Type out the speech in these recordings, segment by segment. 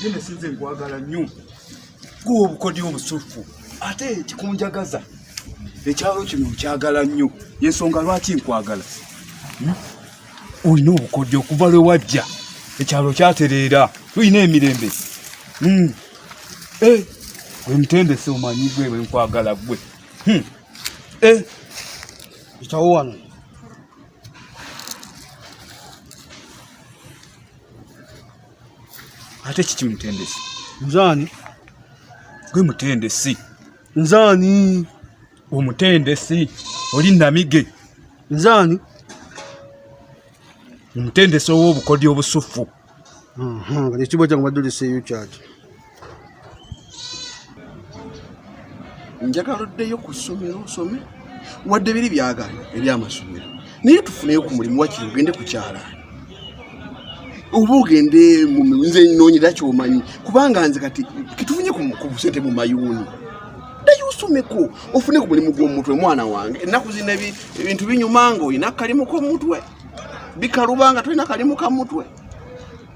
Nene sinze nkwagala nnyo kuwa obukodyo obusuffu ate kikunjagaza ekyalo kino nkyagala nnyo yensonga lwaki nkwagala hmm? olina obukodyo okuva lwe wajja ekyalo kyatereera tulina emirembe hmm. eh, wemutendese omanyi gwe wenkwagala gwe hmm. eh. itawo wano ate kiki mutendesi nzani gwe mutendesi nzani omutendesi oli namige nzani omutendesi ow'obukodyo obusuffu ekibwa kyange baddulisa eyo kyaki njagala oddeyo ku ssomero osome wadde biri byagala ebyamasomero naye tufuneyo ku mulimu wakiri ogende ku kyalaani oba ogende nze noonyera kyomanyi kubanga nze kati kitufunye ku busente mu mayuuni ddayo osomeko ofune ku mulimu gw'omutwe mwana wange ennaku zino ebintu binyuma nga olina akalimu k'omutwe bikalubanga tolina kalimu ka mutwe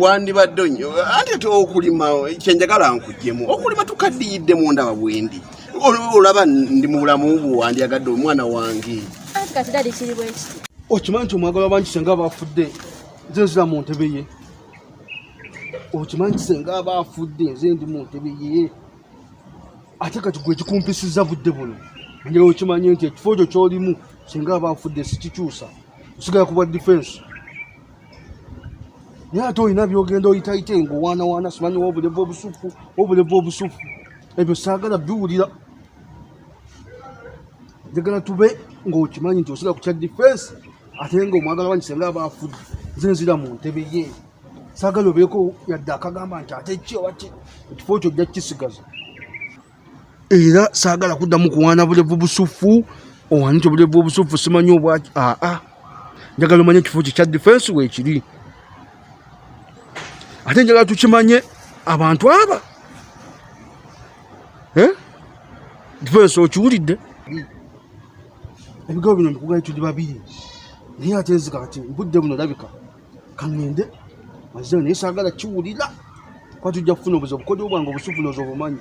wandibadde onyo ate te okulima kyenjagala nkujjemu okulima tukaddiyidde mundaba bwendi olaba ndi mu bulamu bwo wandyagadde omwana wange okimanyi nti omwagala wabangi senga bafudde nze nzira mu ntebe ye okimanyi nti senga aba afudde nze ndi mu ntebe ye ate kati gwe kikumpisiza budde buno njewe okimanyi nti ekifo kyo kyolimu senga aba afudde sikikyusa kusigala ku bwa defense naye ate olina byogenda oyitayite ngaowaanawaana simanyi wobuleva obusufu wobuleva obusufu ebyo saagala biwulira njagala tube ngaokimanyi nti osira ku kya defense ate nga omwagala wanyi senga aba afudde nze nzira mu ntebe ye saagala obeeko yadde akagamba nti ate ki oba ki ekifo kyo ojja kukisigaza era saagala kuddamu kuwaana bulevu busuffu owanite obulevu obusuffu simanyi obwaki aa njagala omanye ekifo kye kya difensi weekiri ate njagala tukimanye abantu aba eh? difensi okiwulidde ebigambo bino mbikugayo tuli babiri naye ate nzika kati mbudde buno labika kangende mazeo naye sagala kiwulira kuba tujja kufuna obuzi obukodeo bwange obusufu noza obumanyi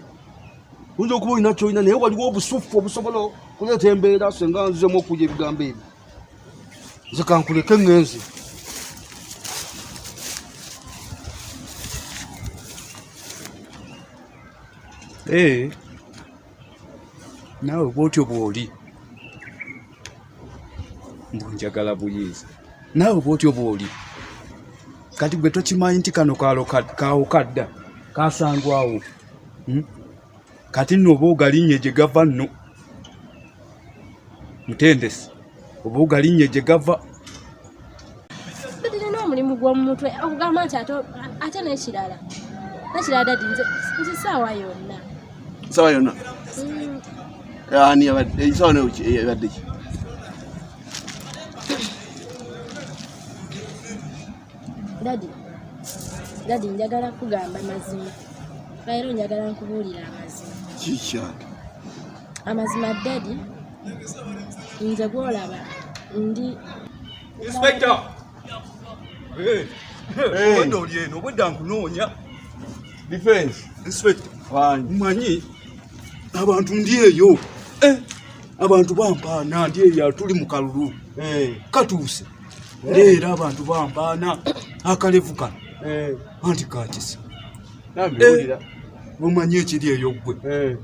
oyinza okuba olina kyolina naye waliwo obusufu obusobola okuleeta embeera senga nzizemu okuja ebigambo ebyo nze kankuleke ngenzi ee eh. naawe bwotyo bwoli mbu njagala buyinza naawe bwotyo bwoli kati gwe tokimanyi nti kano kaawo kadda kasangwawo hmm? kati nooba ogalinye gye gava nno mutendesi oba ogalinnya gye gava tulina omulimu gw'omu mutwe okugamba nti ate n'ekirala n'ekirala dadi nze saawa yonna saawa yonna mm. ani yabadde saawa yabadde ki dadi dadi njagala kugamba mazima leero njagala nkubuulira amazima kikyato amazima dadi nze gwolaba ndi inspector obwedda oli eno obwedda nkunoonya defense inspector mmanyi abantu ndi eyo eh, abantu bampaana ndi eyo atuli mu kalulu eh. katuuse eh. leero abantu bampaana akalevu kano anti kakisa mumanyi ekiri eyo ggwe eh.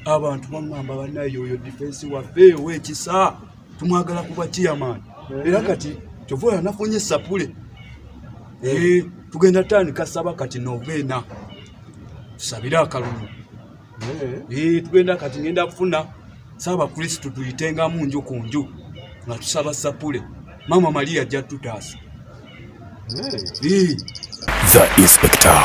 abantu bamwamba banaye oyo difensi waffe owekisa tumwagala kuba chairman eh. era kati kyova oyo anafunye sapule eh. tugenda tandika saba kati novena tusabire akalulu tugenda kati ngenda kufuna saba kristu tuyitenga munju ku nju nga tusaba sapule mama maria jatutasa the inspector